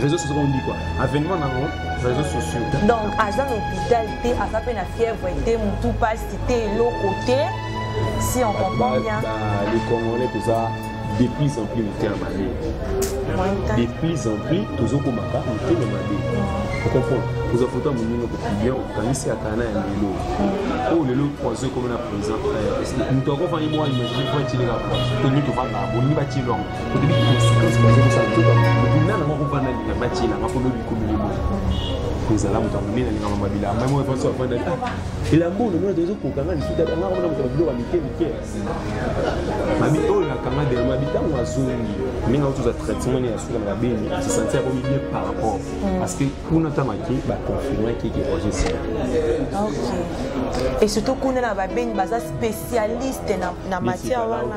réseaux sociaux on dit quoi avènement nango réseaux sociaux donc aza na hôpital te aza mpe na fièvre te motu mpasi te eloko te si on comprend bien les congolais toza de plus en plus motema mabe de plus en plus tozokomaka motema mabe okomprendre kozwa foto ya moninga kopilia okanisi atana ya lelo oyo lelo poison ekomi na présent moto akofani mwa imagine po atileka to nini tofandaka bolingi batilwango ezala moto ya monene alingaka mabilamba moko efanso afanda ta elamba oyo nomona tozo kokanga lisusu ata nga komona moto biloko ya mike mike mabi oyo nakanga delo mabi ntango azongi ndenge auti oza traitement ya suka na babeni asesanti akomi bien par rapport mm. parce que kuna ntango ake baconfirmaki eke roger sila et surtout kuna na babeni baza spécialiste na matière wana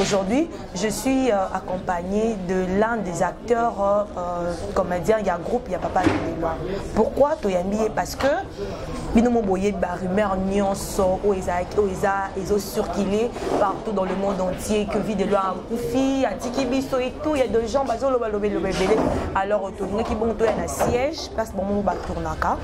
Aujourd'hui, je suis euh, accompagnée de l'un des acteurs euh, euh comédiens, il y a groupe, il y a Papa Lelema. Pourquoi Toyambi Parce que bino moboye ba rumeur nyonso oyo ezalaki oyo eza ezo circuler partout dans le monde entier que vie de loi akufi atiki biso et tout il y a des gens bazoloba loba loba ebele alors tolingaki bongo toya na siège place bango batournaka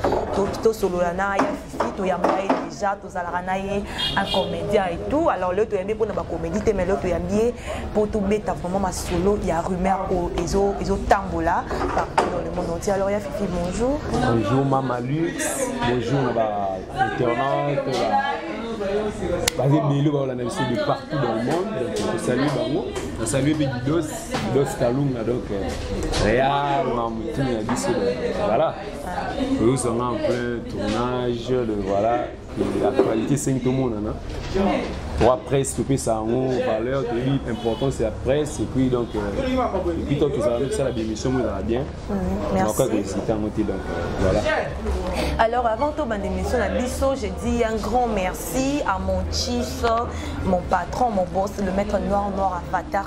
tosolola na ya fifi toyamba ye déjà tozalaka na ye un comédien et tout alors leo toyambi mpona bacomédie te mais leo toyambi ye mpo tobeta vraiment masolo ya rumeur oyo ezotambola partout dans le monde entier alors ya fifi bonjour bonjour mama lux bonjour na bainternet baza ebele baolanda biso de partout dans le monde donc tosalue bango nasalue mpe didos didos kalunga donc real mamutu na biso voilà oyozanga en plein tournage le voilà actualité esengi tomonana trois presse topesa yango valeur toyebi importance ya presse epuis donc epuis euh, to tozala tosala bémission mo ezala bien nakoka koexlite yango te donc euh, voilà alors avant tobanda émission na biso je dis un grand merci à mon chief mon patron mon boss le maître noir noir avatar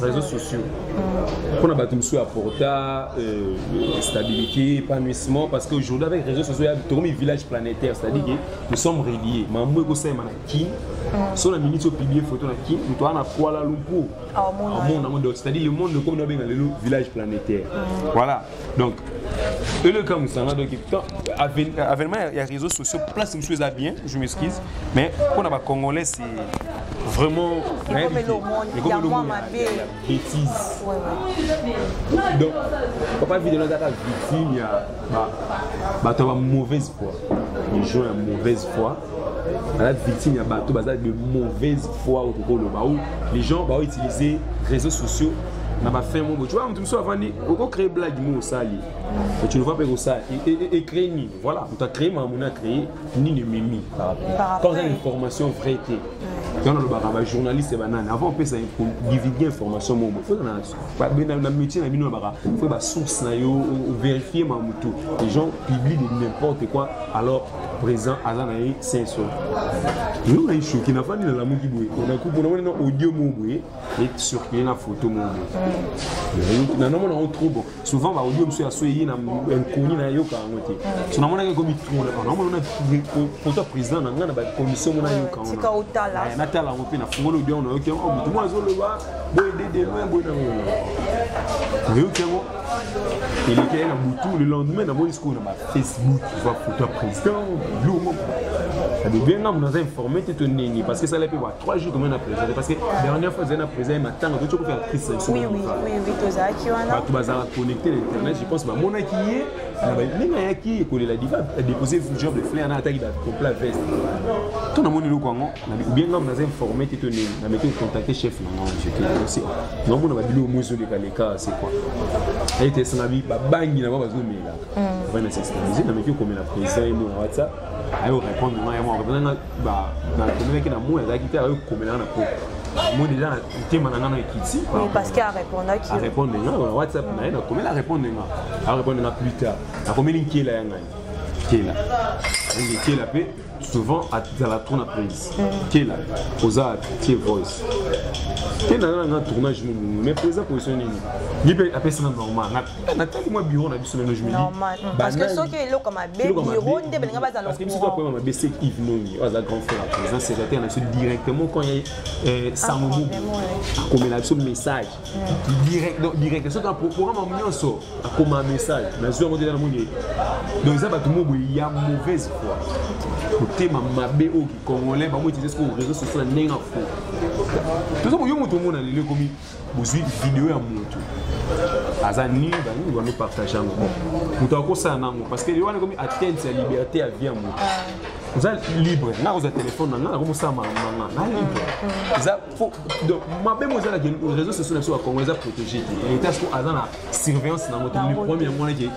réseaux sociaux mpona bato mosusu apporta euh, stabilité épanouissement parce qu'aujourd'hui avec réseaux sociaux tokomi village planétaire c'est-à-dire que nous sommes reliés mambo ekosalema na kin so na minute opiblie photo na kin moto wana na kuala lumpur amona yango donc c'est-à-dire le monde ekomi nabenga lelo village planétaire voilà donc eleka mosanga donc avènement ya réseaux sociaux place mosusu eza bien je m'excuse mais mpo na bacongolais c'est vraiment ekomelo mabe bétise donc papa vidéo azaka victime ya bato ya ba mauvaise foi les gens ya mauvaise foi baza victime ya bato baza de mauvaise foi oyo tokoloba ou les gens baoutiliser réseaux sociaux na ba fin moko tu vois mutu mosusu avandi oko créer blague mo osali et tu ne vois pas ekosala ecrée nini voilà moto acrée makambo na acrée nini ememi quand oza na information vraie te yango nalobaka bajournaliste banani avant opesa divulgue information moko fo na métier na bino nabaka fo basource na yo vérifie ma motu les gens publie de n'importe quoi alors présent aza na ye senso yo na ye shoki nafandi nalamuki boye nakuponamoni na audio moko boye ete circule na photo moko mm. na nomona yango trop bon souvent baaudio mosusu ya so eye na inconnu nayoka yango te mm. so namonaki ekomi trop namona na photo ya président na ngai na bacommission mona ayoka eh, natala yango mpe nafungoli audio yango nayoki yango oh, motu mwa azoloba boye dedema boye nango nayoki yango elekeli na butu le lendemain namoni sikoyo na bafacebook va photo ya président lomo abebenga moto aza informe te to ndenge parce que esala mpe trois jours comment na présente parce que dernière fois ezali na présent ye matanga toki okofela crise nabisobato bazala connecté na internet je pense bamonaki ye ndenge ayaki kolela diva adépose job de flair na ataki bacompla veste to namoni eloko yango obien ngambo naza informe te to ndenge nameki ocontacte chef na ngai jete namona babilo omo ezolekaleka c'est quoi ayete esanga bi babangi na bango bazomela mm. vana sextamize nameki okomela président ye mona whatsapp ayo répondre ngai yango nakomelaki na moi azalaki te akoki komelaka na koko moi deja na ntema na ngai na ekiti arépondre nga na whatsapp na ye nakomeli arépondre nga arépondre nga plus tard nakomeli nkela ya ngai nkela nkela mpe souvent azala trop na prise nkela mm. oza tie voice te naza na nga tournage mais mpe eza position nini ye mpe apesi na normal natali mwa biro na biso lelo jmediparceke soki eloko mabe biro nde balinga bazala parce que biso toakoyema mabe se ive nongi oyo aza grand frère ya président secrétaire na biso directement quand ye eh, ah, sango mobu akomela biso message mm. direct soki programme yango nyonso akoma message nazwi yango te na moni ye donc eza bato mobo ya mauvaise foi motema mabe oyo kicongolais bango utilize sikoyo réseau social na ndenge na fo toza koyo moto omona lelo ekomi bozwi video ya moto aza nini banini bano partage yango bon moto akosala nango parce que wana ekomi atteinte ya liberté ya vie ya moto ah. oza libre nga kozwa telefone na nga nakokosala makambo na nga na libre mm, mm. eza donc mabe mo ezalaki réseau sociaux na biso ya congo eza protégé te etat siko aza na surveillance na moto le problème yango wana ke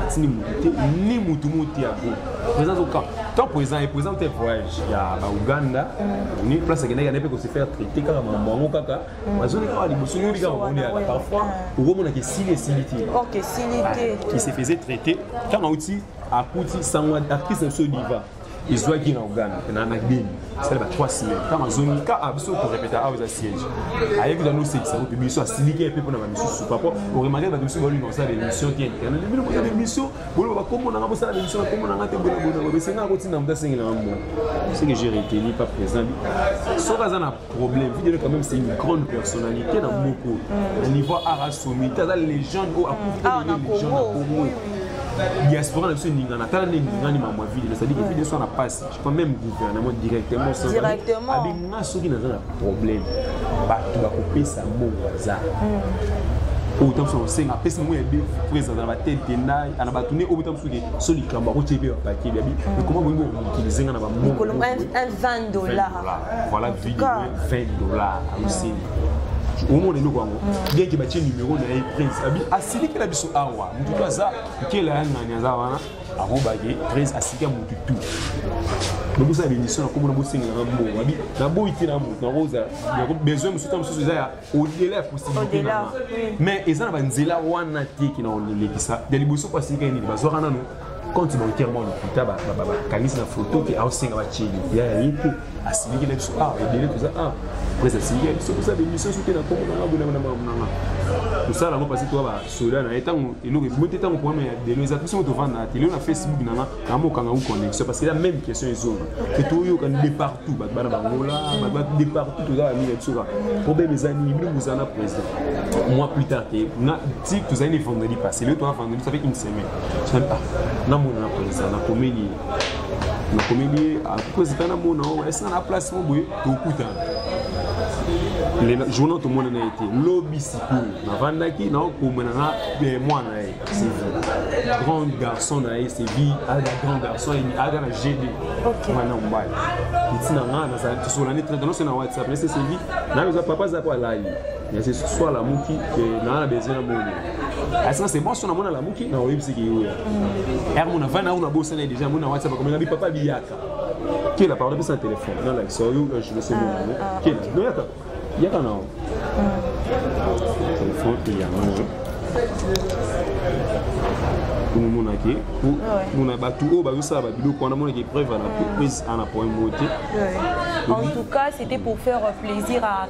atindi moto te ni motu mo te ya goma présence au camp camp présent et présent te voyage ya bauganda ni place akendaki ane mpe kose faire traité kaka mambo yango kaka bazoni kaka liboso yoli kaka moni yaka parfois okomonaka esili esili te qui se faisait traité ntango auti akuti sango actrice na biso diva ezwaki na uganda na na gbeni sala ba 3 semaine ntango azongi ka ah, biso korepeta awa ah, eza siège ayebi kuza nosekisa kupe biso asiliki mpe mpona bamisusu papo oremake bato biso balino kosala baémission te bino kosala baémission boloba bakombo nanga bosala baémission bakombo nanga te bonabona esengaka kotinda moto asengelaka mbo ce que j'ai retenu pas présent soki aza na problème videle quand même c'est une grande personnalité na moko mm. na niveau ara somite aza légende oyo akufi te légende na congo diaspora na biso eningana tala nde eningani mamwa vide cestadire vide eso na mpasi quand même gouvernement directement abi nga soki naza na problème bato bakopesa mbongo aza oyo ta mosusu akosenga apesi mongo ya be présence na batete ndai ana bato nde oyo ta mosusu ke so likambo akotie mpe bapakeli abi ekoma boyingi okomokilize nga na bamokolo voilà video 20 dollars amuseli ah, omona eloko yango mm. bien ke batie numero na ye prince abi asilikela biso awa motu to aza nkela ya ngani aza wana akobaki prince asika motu tu lokosa ya bemission na komona bosengelaka mbongo abi naboyi te na motu nakozala besoin mosusu ta mosusu eza ya odela ya possibilité nanga mais eza na banzela wana te ke na kolekisa ya liboso mpo asilikaki nini bazwaka nano quand tu monter mon lokuta bakangisi na foto ke aosenga batie lokuya ya ye te asilikela biso awa ah, ebele toza awa ah, pres asilikela biso toza bemission soki na kongo nanga bonanga na makambo nanga tosala yango parce toa basoda na ye ntango eloko ebimi te ntango problème ya delo eza biso moto ovanda te lelo na facebook nanga namokanga u connexion parce que la même question ezonga ke toyokani de partout bato bana bangola bato de partout toza bamina biso kaka problème eza nini bino bozala na président mois plus tard te na ti tozali ne vendredi passé lelo toa vendredi ça fait une semaine ah, namona na mpenza nakomeli ye nakomeli ye akozika namona o esika na place mo boye tokutana lela journal tomona na ye te lobi sikoyo navandaki naokomana na eh, mwana na ye sevi grand garçon na ye sevi aga grand garçon aga na gd mwana mobali ntina nga nazalaki tosolani très danose na whatsapp nase sevi nayo eza papa aza po alali Mais c'est soit la mouki que n'a la besoin de mourir. Est-ce que c'est bon si on a mon la mouki na oyebi c'est qui yo. Er mon avant na on a bossé na déjà mon WhatsApp comme nabi papa biyaka. Qui la parole de son téléphone. Non là, so yo je le sais moi. Qui là? Non yaka. Yaka na. Téléphone il y a omomonaki mona bato oyo bazosala babiloko wana monaki preuve ana prise ana point moko te en tout cas c'était pour faire plaisir à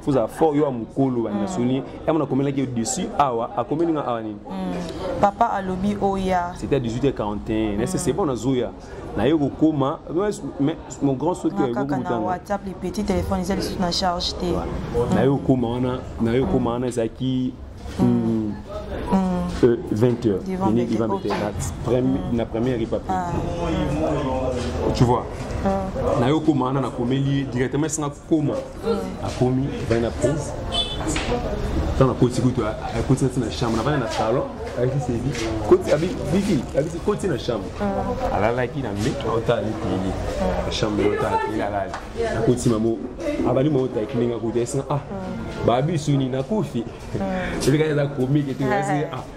fozala fort yo ya mokolo banda soni yango nakomelaki yo dessus awa akomeli nga awa nini hmm. papa alobi oya c'était à 18h41 nase c'est bon nazoya naye kokoma mon grand sokiwhatsapp les petits téléphones eza lisusu na charge te naye kokoma wana naye kokoma wana ezalaki 20 heures na première ripapi ah. tu vois ah. naye okoma wana nakomeli directement esinga koma akomi avandi na prince ntango akoti kutu akoti nati na chambre navandi na salon ayebisi ebi bibi abisi koti na chambre ah. alalaki na mbe aotala ni tele ah. chambre otala tele alali akoti mamo abali mamo taki ndenge akuti asinga ah babisu nini nakufi eleka eza komike te kasi ah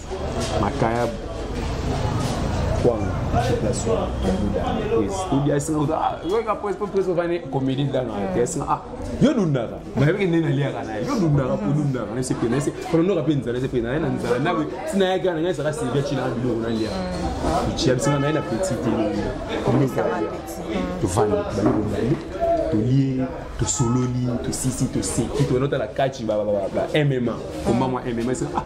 makayabu kwanga comédie dana esinga a yo dundaka nayebeke nde naliaka naye yo dundaka po dundaka nase pe nase kononoka mpe nzala ese pe naye na nzala nawe sinayaki wana ngai saka silvia cina biloko nalia ya bisinga naye na petit te tovandi bali kobandi tolie tosololi tosisi toseki toyena otala kaci ba mma komba mwa mma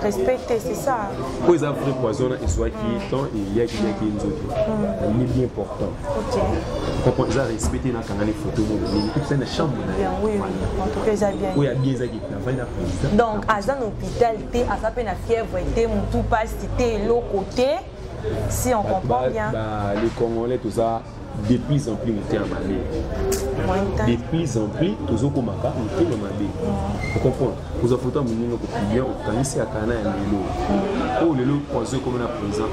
respect te c'est ça oyo eza vrai poison na ezuaki mm. temps eliaki liaki nzoki mm. ye bien important comprend eza respect te nakangani photo molobeli epesa na chambre na oyo abie eza kitavai na président donc aza na hôpital te aza mpe na fièvre te motu mpasi te eloko te si on comprend bien ba, les congolais toza de plus en plus motema mabe de plus en plus tozokomaka motema mabe okomprendre kozwa foto ya moninga kopilia okanisi ya kana ya lelo oyo lelo poison ekomi na présent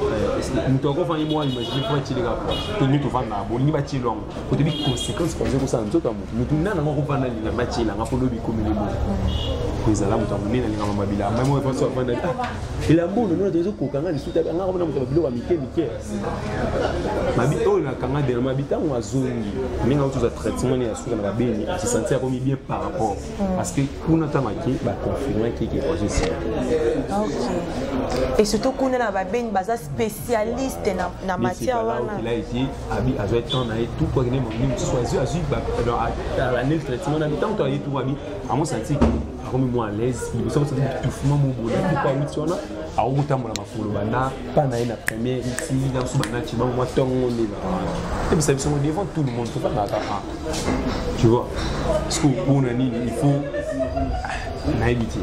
moto akofani mwa imagine mpo atyeleka toni tofanda na bolingi batyelo yango kotobi conséquence poison ekosala nzoto ya moto moto nana yango akofanda linga batyela nga mpo lobi ekomeli mo ezala moto ya monene alingama mabilamba moko epanso afanda elambo onomona tozokoka nga lisuta nga komona moto ya babiloko ya mike mike mabi oyo nakanga dena mabi ntango azongi ndenge auti oza traitement ne ya suka na babeni asesanti akomi bien par rapport mm. parce que kuna ntango ake baconfirmaki ke azosila et surtout kuna na babeni baza spécialiste na matière wana là ete abi azwa temps na ye tout quoi kende mamoni mosusu azwi azwi alane traitement na ntango to aye tout abi amosanti akomi mwa à l'aise liboso amosanti bitouffement mobona tout quoi awuti wana akokotambola koloba na pa na ye na premier ti na biso banaci bango mwa ntongo nde ebisa biso ngo devant tout le monde tokangaka a tu vois parce que mpona nini il faut nayebi te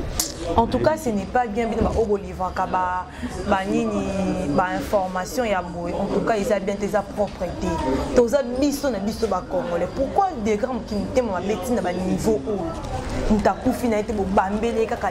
en tout cas ce n'est pas bien bino baoyo bolivraka banini bainformation ya boye en tout cas eza bien te eza propre te toza biso na biso bacongolais pourquoi degré mokili motema mabe ntina baniveau oyo moto akufi na ye te bobambeli ye kaka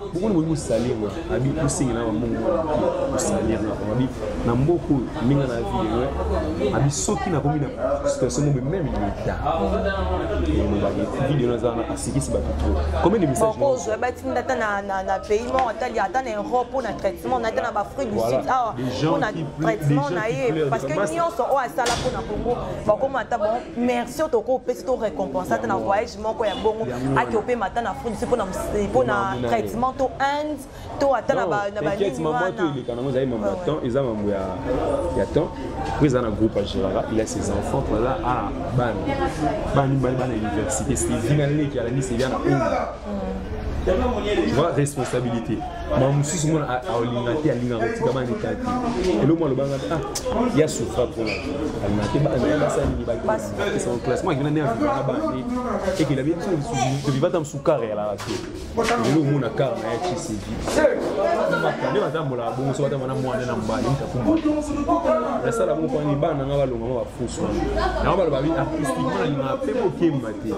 bokoni boki kosalir na abi kosengi na bambongo kosalir na bango abi na mboka oyo ndenge na vie abi soki nakomi na situation mobe meme leta elobaki video naza wana asikisi bato tro combien de message okozwa batinda ata na pays moko atali ata na europe mpo na traitement na ata na baafrique du sud awa mpo na traitement na ye parce que nyonso oyo asala mpo na congo bakoma ata bon merci oyo tokopesi to récompense ata na voyage moko ya bongo ake opema ata na afrique se mpona eh, traitement to inde to ata na baniniwanaleka nango ezali mambo ya temps eza mambo ya temps po eza na groupe agiraka il a ses enfants mpona a bana bana mibali bana université sevi na leki alandi sevi na oyo va responsabilité ma mosusu mona aolinga te alingaka kotika bana leta te eloko alobanga ah ya souffra mpona alinga te bana basali esa classement akina nde avivaka bande ekela bie biso toviva ata mosu kare yalaka te lelo omona kare na ya cicv nde batambolaka bongo so batamba na mwana na mobali mitakumba nasala bongo kwani bana nanga balonga ma bafusu wana yango baloba bi artistiquement nalingaka mpe mokemba te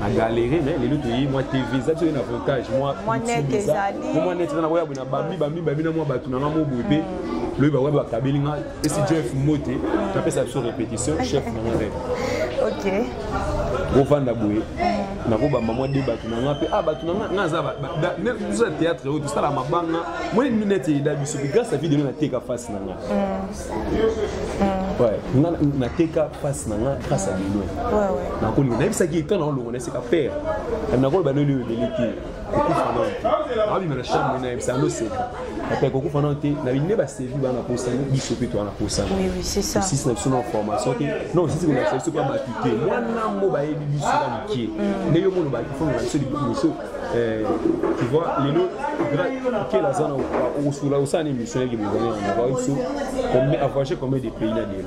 na galere mais lelo toyei mwa tv eza biso na avantage mwa net eza nakoya boye na bambi bambi babi na mwa bato nanga moboye mpe lobi bakoya bakabeli nga esi jeff mbote napesa biso répétition chef na nga rep ok bofanda boye mm. nakobamba mwa de bato na nga mpe a ah, bato na nga nga aza biso ya théâtre oyo tosala mabanga mwa nini neti eyeda biso mpe grâce a video nde nateka face na nga mm. nga nateka face na nga grâce a bino nakolinga nayebisaki etan naolongo na esika père nakoloba noli oyo ebele te kokufa nao te abima na chambre na ye bisa ando seka ata kokufa nao te na binde basevi bana posana biso mpe towana posana osisi na biso na formation te na osisi kolakisa biso mpe ya bato te mwana mo bayebi biso ya mokie mm. nde yo mono bakifongola biso liboso eh, tu vois lelo kela aza na okosola osala na émission yaki bozana yango bayebi biso avoyage combien de pays na delo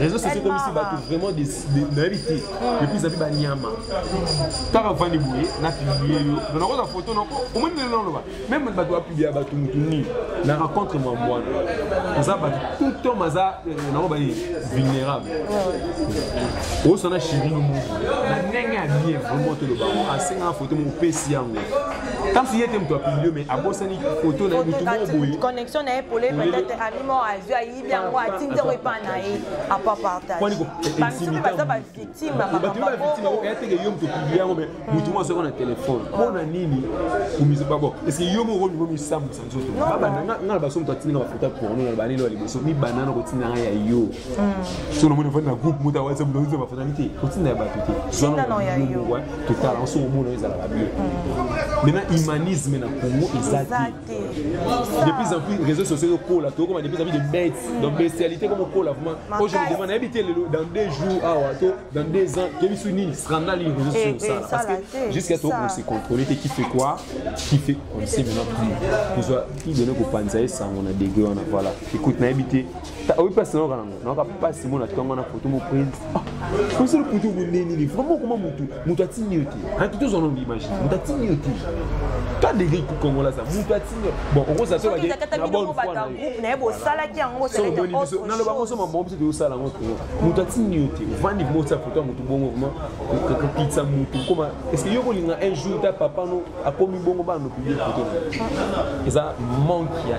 réseau sociaux ekomisi bato vraiment nayebi te epuis api banyama ntaka vandi boye na publie yo na nakozwa foto nako omoni lelo naloba meme bato bapublia bato motu nini na rencontre mwa mwana oza bato tout temps maza euh, nako baye vulnérable osana chirino motu na ndenge ya bien vraiment toloba asengaka foto mo opesi yango kasi ye te moto apublie mais abosani foto na ye motu moko boye connexion na ye pole peut-être ami moko azwi ayebi yango atindi yango epai na ye apartagebamosusu baza bavictime ya makamboyangomoto moko azoko na telefone mpona nini komizobabo eske yo moko olingo misambwisa nzoto nga na baso moto atindinga bafoto ya porno na banelo ya liboso mibanda na kotinda nga ya yo so namoni ofandi na groupe moto awasa moto ozo bafoto yango te kotinda ya bato te zwanamongwa totala yango soki omona ezalaka bien maintenant humanisme na congo eza te de plus en plus réseaux sociaux ezokola tokokoma de plus en plus de bêtes mm. donc bestialité comme okola vraiment po je me demande nayebi te lelo dans deux jours awa ah to dans deux ans toyebi soki nini scandale nini réseaux sociaux osala eh, eh, parce que jusqu'à tokoma se contrôler te qui fait quoi qui fait on sait maintenant plus tozwa idene kopanza ye sango na degré wana voilà écoute nayebi te oyi mpasi nayoka nango nayoka mpasi mona ntongo na foto mo prince osala foto yango nde nini vraiment okoma motu moto atindi yo te anki tozwa nango imagine moto atindi yo te ta degri kongola za moto atindi yo bon okozala so bake na bonne foi na yo naye bosalaki yango omoni biso naloba ngo so mabango biso toyosala yango te moto atindi yo te ovandi vraimen otya foto ya motu bongo vraimen kokitisa motu okoma est ce que yo kolinga un jour ta papa no akomi bongo bana nopublie foto na eza manque ya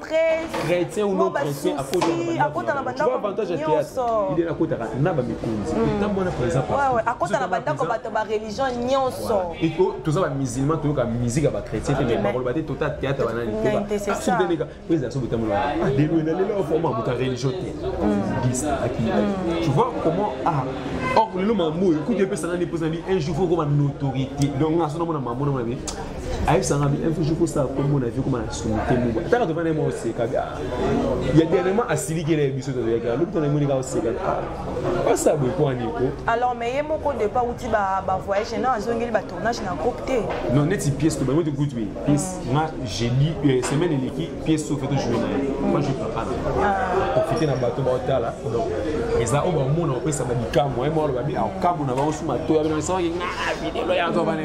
chrétien ou non chrétien akota na bandako avantage ya théâtre il est akota na ba mikonzi na mwana par exemple ouais ouais akota na bandako bato ba religion nyonso et que toza ba musulman to yoka musique ya ba chrétien te mais bakolo ba te tota théâtre bana ni te ba su te leka pesa so betamu la ah de loin na lelo forma muta religion te dis aki tu vois comment ah or lelo mamu écoute pesa na ni pesa ni un jour faut ko ba notoriété donc na so na mona mamu na mona ayebisanga un jour kosala kombo na vie koma na sumu te muba ataka tovanda ye mwa oseka ya dernièrement asiliki na ye biso tozoyaka lobi tona emoni kaka oseka basa boye mpo aniko alors mais ye moko depa uti bavoyage na azongeli batournage na groupe te non neti pièce tobango te kutu ye pièce nga jeudi euh, semaine eleki pièce sofe tojoue na ye moi je papa profite na bato baotala donc eza oyo bamona opesa balikambo ye mwa aloba bi akambo na bango suma toya bino esawaki nga videlo ya to bana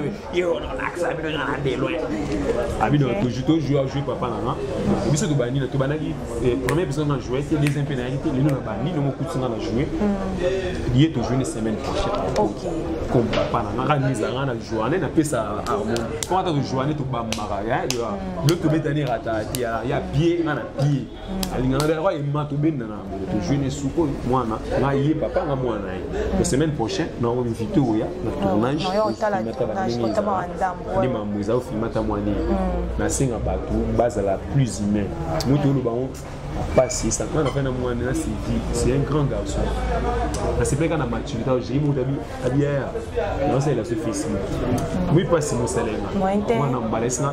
abino toujours tojoue ajoue papa na nga biso tobandi na tobandaki eh, premier épisode na joue te deuxième mpe nayaki te lelo nabandi nongo okuti nga na joue mm. ye tojoue ne semaine prochaine comme papa na nga kaka nizala nga na joane napesa harmoni po ata tojoane tobambaka lo tobetani rata ya pie nga na pie alingana bela kwa ema tobenda na yango tozwi ne suko mwana nga ye papa nga mwana ye la semaine prochaine na invité oya na tournage nde mambo eza ofilme ata mwana ye nasenga bato bazala plus humain moto oloba ngo pasi sakana na fai na mwana na sidi c'est un grand garçon nasepelaka na maturité ojei moto abiyaya naosalela so facebook moi pasi mosalenga mwana mbala esina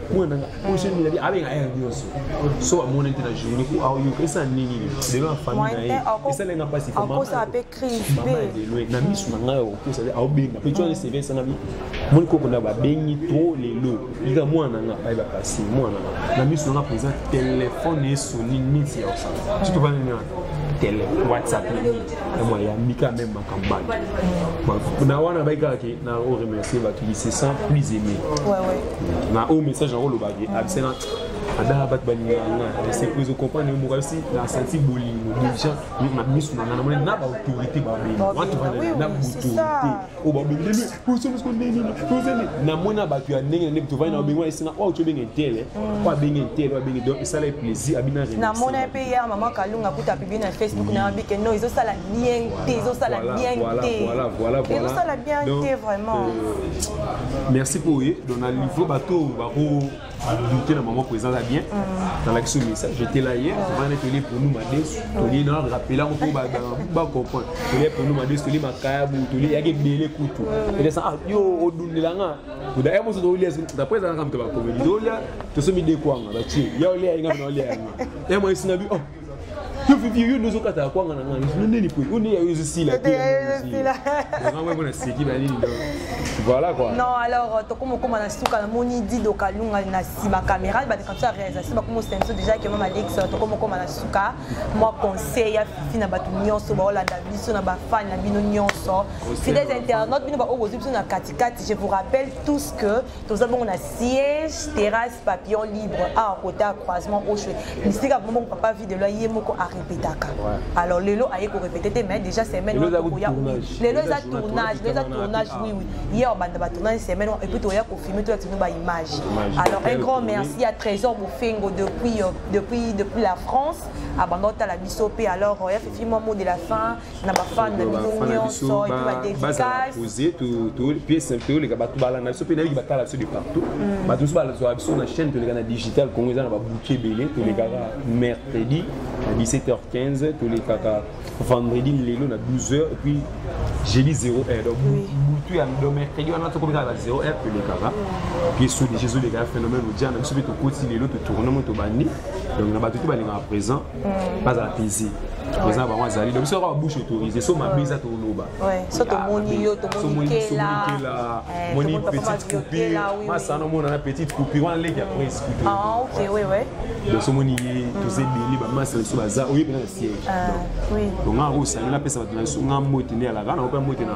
kuna nanga oyo soki milabi abenga aire nyonso so amoni te na journée ko aoyoka esala nini lelo na famille na ye esala nga mpasi mama ya lelo na miso na ngai okosa te aobenga mpe twana seve esangami moni koko na babengi to lelo ika mwana na nga baye bapasi mwana na nga na miso na nga mpenza telefone esoni niti ya osala soki tobana tele whatsapp na nini yango ayambi ka meme makambo bato na wana bai kaka ke na o remercier bato qui se sent plus aimé na oyo message yango olobaki abisena ada bato balingaka nga esepo ezo comprendre yo moko abisi na santi bolingo déjà na miso na nga namoni na baautorité babeli watu na baautorité oyo babengeli osolosiko ndenge nini tozali na mona bato ya ndenge na ndenge tovandi na obengi wana esenga oyo tobenge etele oyo abenge etele oyo abenge donc esala ye plaisir abina na mona ye mpe ya mama kalunga kuta apibi na facebook na yabi ke no ezosala bien te ezosala bien te ezosala bien te vraiment euh, merci mpo oye donc na livre bato bako J'étais na maman présent là bien. Dans la question ça, j'étais là hier, on a télé pour nous madès, télé na rappela on peut ba ba comprendre. Télé pour nous madès, télé makabu, télé yake belé kutu. Et ça ah yo odundela nga. Kuda emo so dolia d'après ça nga mtaba komeli. Dolia to so mi de kwanga ba chi. Ya olia nga na olia nga. Emo isina bi oh yo fifi yo ndozo kata ya kwanga na ngai yo neni po yo neni ya yo ezosila te yango yango naseki na nini donc voilà quoi non alors euh, tokoma okoma na suka namoni dido kalunga na nsima caméra bande comme ça réalisation bakoma osenso déjà ke mama alex euh, tokoma okoma na suka mwa conseil ya fifi na bato nyonso baolanda biso na bafani na bino nyonso fidèles internaute bino baoyo bozwi biso na katikati je vous rappelle tous que toza bongo na siège terrasse papillon libre awa kota ya croisement oshwe bisika bongo bongo papa vide loi ye moko arepetaka alors lelo aye korepete te mais déjà semaine wana tokoya lelo eza tournage lelo eza tournage oui oui hier obanda batournage semaine wana epuis toya kofilme toya tino baimage alors un grand merci à trésor mofengo depuis, euh, depuis, depuis la france abanda otala biso mpe alors ya fifi mwa mot de la fin na bafane na biso nyonso epe badedicase toleka bato balanda biso mpe nayoki batala biso de partout mm. bato mosusu bazwa biso na chaîne toleka na digital congo eza na babuki ebele tolekaka mm. mercredi na 17h15 tolekaka vendredi lelo na 12h epuis jeudi 0 heure donc butu ya do mercredi wana tokomikaka na 0 heure tolekaka puis so déjà ezoleka ya phénomène ojana biso mpe tokoti lelo totournement tobandi donc na bato te balingaka présent bazala pese eza bango azali donc biso kaka bouche autorise so mabe eza toloba so tomoni yo tomonikela moni petite coupure masana omona na petite coupure wana leki ya prince coupure donc somoni ye toza ebele bamasa na biso baza oyebi na siège donc nga osali napesa bato na biso nga mbote nde alaka na ope mbote na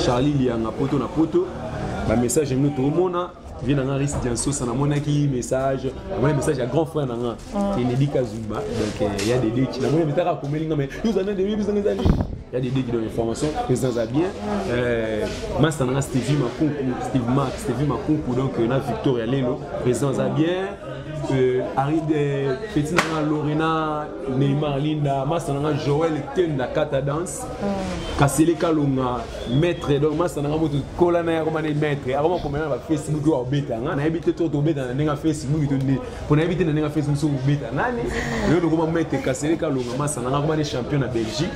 charlie lianga poto na poto bamessage yango toomona vie na nga risque diansosa namonaki message namoni message ya grand frère na nga ah. enedi kazumba donc euh, ya dedeki namoni metaka akomeli nga me yozana de yebisanga eza nini ya dedeki donc information président aza bien euh, masta na nga stevie makunku steve mark stevie makunku donc euh, na victoria lelo président aza bien aride peti na nga lorena neymar linda masta na nga joel etenda kata danse mm. kasele kalonga maître donc masta na nga moto kola na ye akoma ne maître akoma komela na bafacebook oyo abeta nga nayebi te to tobeta na ndenge ya facebook to nde mpo nayebi te na ndenge ya facebook soki obeta nani oyo lokoma maître kasele kalonga masta na nga akoma ne champion na belgique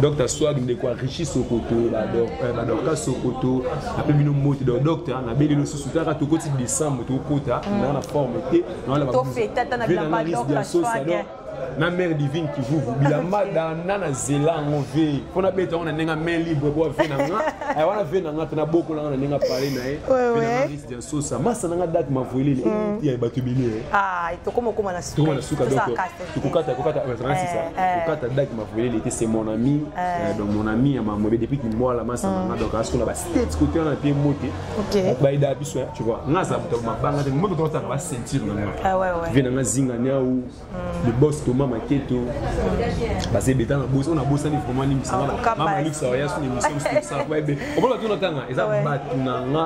Docteur Swag ndeko ya Rishi Sokoto, ba Docteur Sokoto, ape bino mbote donc docteur na beli losusu taka tokoti décembre tokota mm. na na forme te na la ba. To feta na bila ba Docteur Swag. na mère divine kivuvu bilamba danda na zela yango ve mpo nabeta yango na ndenge main libre po ave na nga wana ve na nga mpe nabokolanga na ndenge apale na ye sosa masa nanga date mavoilele mm. ya bato ebele eh. ah, tokoma okoma na sukatokoma na suka donc tokokata kokata ezalaka sisa kokata date mavoilele te c'est mon ami eh. Eh, donc mon ami ya mamobe depuis kimbwala masa mm. nanga donc asokola ba states kote wana mpe mote bayeda biso tu vois nga aza moto mabanga te moto tokotaka ba ceinture nanga ah, vie nanga zinga niau le boss Thomas Maketo base beta na boss on a bossani vraiment ni misala ba mama Alexa ya suni mission ça ba be on peut tout entendre eza batu na nga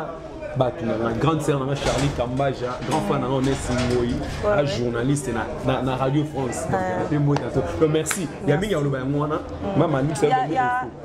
bato na nga grande sœur na nga charlie kambaja grand fan na nga onesi ngoi a journaliste na radio france mpe mbota to merci ya mingi ya koloba yango wana mama nixon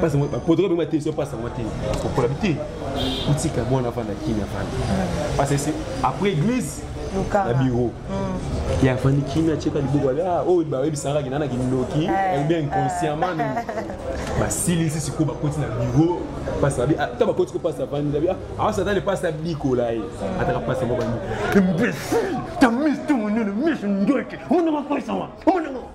pasi yango protocole bengi batelisi yo pasi yango te kopola bi te otika mwana afanda kini afanda pasi esi après église na bureau ye afandi kini atyeka liboko ali ah, oyo bayebisaka kina na kindoki bien inconsciemment basilisi sikoyo bakoti na bureau pasi abi ah, ta bakoti ko pasi afandi abi awasa ah, ata le pasi abikola ye ataka pasi moko bandi imbécile ta mise to monene mise ndoki omonaka koisama omonaka